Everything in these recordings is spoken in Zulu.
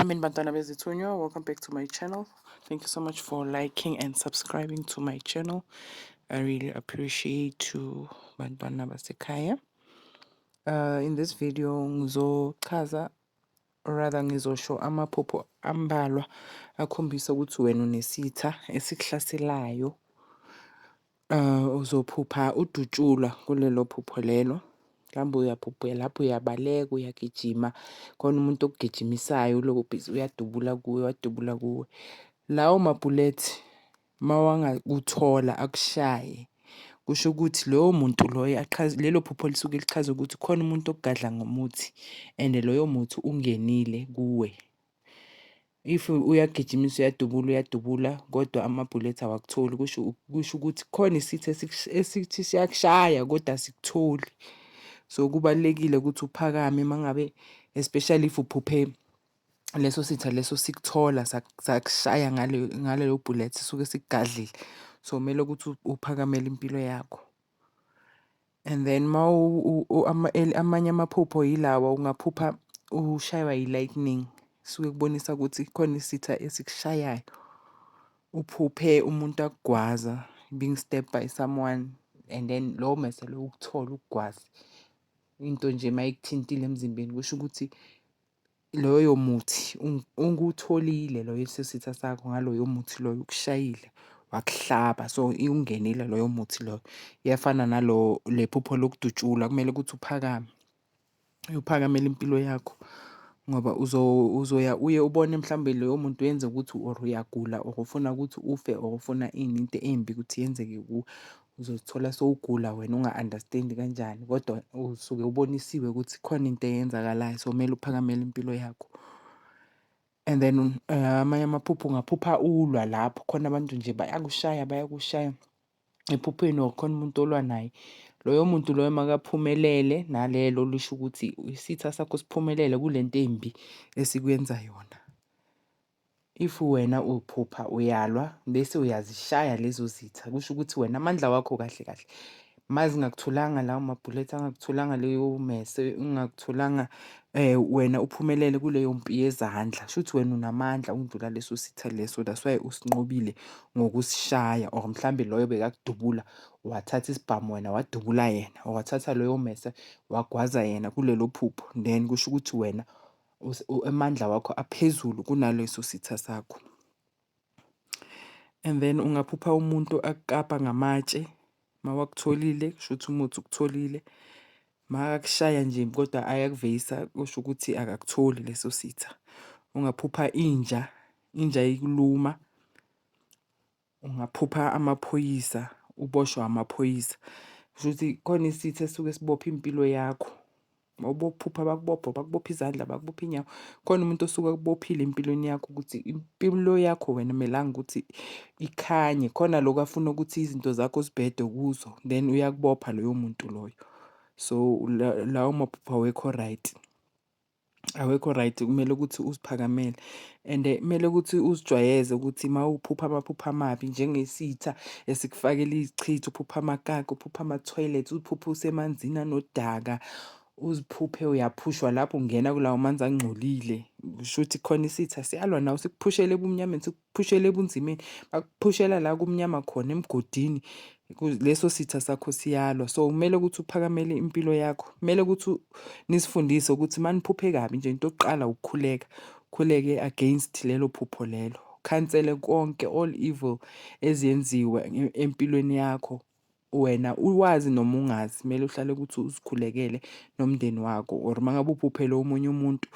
Amen bantwana bezithunywa welcome back to my channel thank you so much for liking and subscribing to my channel I really appreciate you bantwana basekhaya uh, in this video ngizochaza rather ngizosho amaphupho ambalwa akhombisa ukuthi wena unesitha esikuhlaselayo Uh, uzophupha udutshulwa kulelo phupho lelo mhlawumbe uyabhubhela lapho uyabaleka uyagijima khona umuntu okugijimisayo uloku bhizi uyadubula kuwe wadubula kuwe lawo mabhulethi mawangakuthola akushaye kusho ukuthi loyo muntu loyo achaze lelo phupho lisuke lichaza ukuthi khona umuntu okugadla ngomuthi and loyo muthi ungenile kuwe If uyagijimisa uyadubula uyadubula kodwa amabhulethi awakutholi kusho kusho ukuthi khona isithi esithi siyakushaya kodwa asikutholi. So kubalulekile ukuthi uphakame uma ngabe especially if uphuphe leso sitha leso sikuthola sakushaya ngalelo bhulethi esuke sikugadlile. So kumele ukuthi uphakamele impilo yakho. And then amanye amaphupho yilawa ungaphupha ushaywa yi-lightning suke kubonisa ukuthi khona isitha esikushayayo. Uphuphe umuntu akugwaza being stabbed by someone and then lowo mese lowo ukuthola ukugwaze. Into nje mayikuthintile emzimbeni kusho ukuthi loyo muthi ungutholile loyo esesitha sakho ngaloyo muthi loyo ukushayile wakuhlaba so iwungenile loyo muthi loyo. Iyafana nalo le phupho lokudutshulwa kumele ukuthi uphakame uyophakamela impilo yakho ngoba uzoya uye ubone mhlawumbe loyo muntu uyenza ukuthi or uyagula or ufuna ukuthi ufe or ufuna ini into embi ukuthi yenzeke kuwe. Uzozithola sowugula wena unga-understand-i kanjani kodwa usuke ubonisiwe ukuthi khona into eyenzakalayo so kumele uphakamele impilo yakho. And then amanye amaphupho ungaphupha ulwa lapho khona abantu nje bayakushaya bayakushaya ephupheni or khona umuntu olwa naye. Loyo muntu loyo makaphumelele nalelo lisho ukuthi isitha sakho siphumelele kule nto embi esikwenza yona. If wena uphupha uyalwa bese uyazishaya lezo zitha, kusho ukuthi wena amandla wakho kahle kahle mazingakutholanga lawo mabhulethi angakutholanga leyo mese ingakutholanga um eh, wena uphumelele kuleyo mpi yezandla sho ukuthi wena unamandla ukundlula leso sitha leso that's why usinqobile ngokusishaya or mhlawumbe loyo bekakudubula wathatha isibhamu wena wadubula yena or wathatha loyo mese wagwaza yena kulelo phupho then kusho ukuthi wena amandla wakho aphezulu kunaleso sitha sakho and then ungaphupha umuntu akukapa ngamatshe mawakutholile kusho ukuthi umuthi ukutholile makakushaya nje kodwa ayakuveyisa kusho ukuthi akakutholi leso sitha ungaphupha inja inja ikuluma ungaphupha amaphoyisa uboshwa amaphoyisa kusho ukuthi khona isithi esuke sibopha impilo yakho obophupha bakubopha bakubopha izandla bakubopha inyawo khona umuntu osuke akubophile empilweni yakho ukuthi impilo yakho wena melanga ukuthi ikhanye khona lokho afuna ukuthi izinto zakho zibhede kuzo then uyakubopha loyo muntu loyo so lawo maphupha awekho right awekho right kumele ukuthi uziphakamele and kumele ukuthi uzijwayeze ukuthi uma uphupha amaphupha amabi njengesitha esikufakela izichitho uphupha amakaka uphupha ama-toilet uphupha usemanzini anodaka uziphuphe uyaphushwa lapho ungena kulawo manzi angcolile kusho ukuthi khona isitha siyalwa nawe sikuphushele ebumnyameni phushela ebunzimeni bakuphushela la kumnyama khona emgodini leso sitha sakho siyalwa so kumele ukuthi uphakamele impilo yakho kumele ukuthi nisifundise ukuthi maniphuphe kabi nje into yokuqala ukukhuleka khuleke against lelo phupho lelo khansele konke all evil eziyenziwa empilweni yakho wena uwazi noma ungazi kumele uhlale ukuthi uzikhulekele nomndeni wakho or uma ngabe ubhuphele omunye umuntu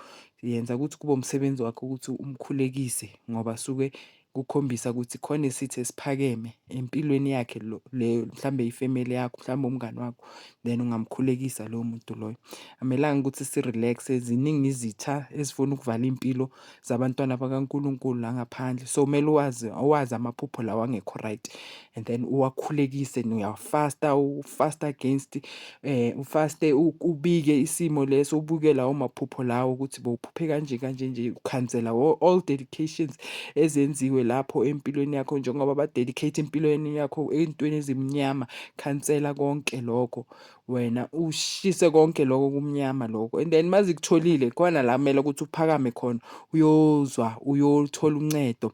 yenza ukuthi kube umsebenzi wakho ukuthi umkhulekise ngoba suke kukhombisa ukuthi khona isithi esiphakeme empilweni yakhe lo leyo mhlawumbe ifamily yakho mhlawumbe umngani wakho then ungamkhulekisa lowo muntu loyo amelanga ukuthi si-relax ziningi izitha ezifuna ukuvala impilo zabantwana bakaNkulunkulu la ngaphandle. So kumele uwazi uwazi amaphupho lawa angekho right and then uwakhulekise uyafasta ufasta against eh ufaste ubike isimo leso ubuke lawo maphupho lawo ukuthi bowuphuphe kanje kanje nje ukhansela all dedications ezenziwe lapho empilweni yakho njengoba ba dedicate impilweni yakho entweni ezimnyama khansela konke lokho wena ushise konke lokho kumnyama lokho and then uma zikutholile khona la kumele ukuthi uphakame khona uyozwa uyothola uncedo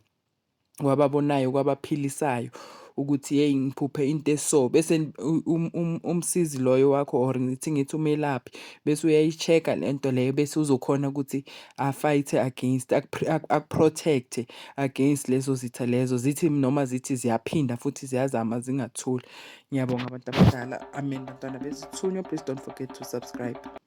kwababonayo kwabaphilisayo ukuthi yeyi ngiphuphe into eso bese um, um, umsizi loyo wakho or ngithi ngithi umelaphi bese uyayi-check-a le nto leyo bese uzokhona ukuthi afight-e against akuprotect-e against lezo zitha lezo zithi noma zithi ziyaphinda futhi ziyazama zingathuli Ngiyabonga abantu abadala. Amen bantwana bezithunywa. Please don't forget to subscribe.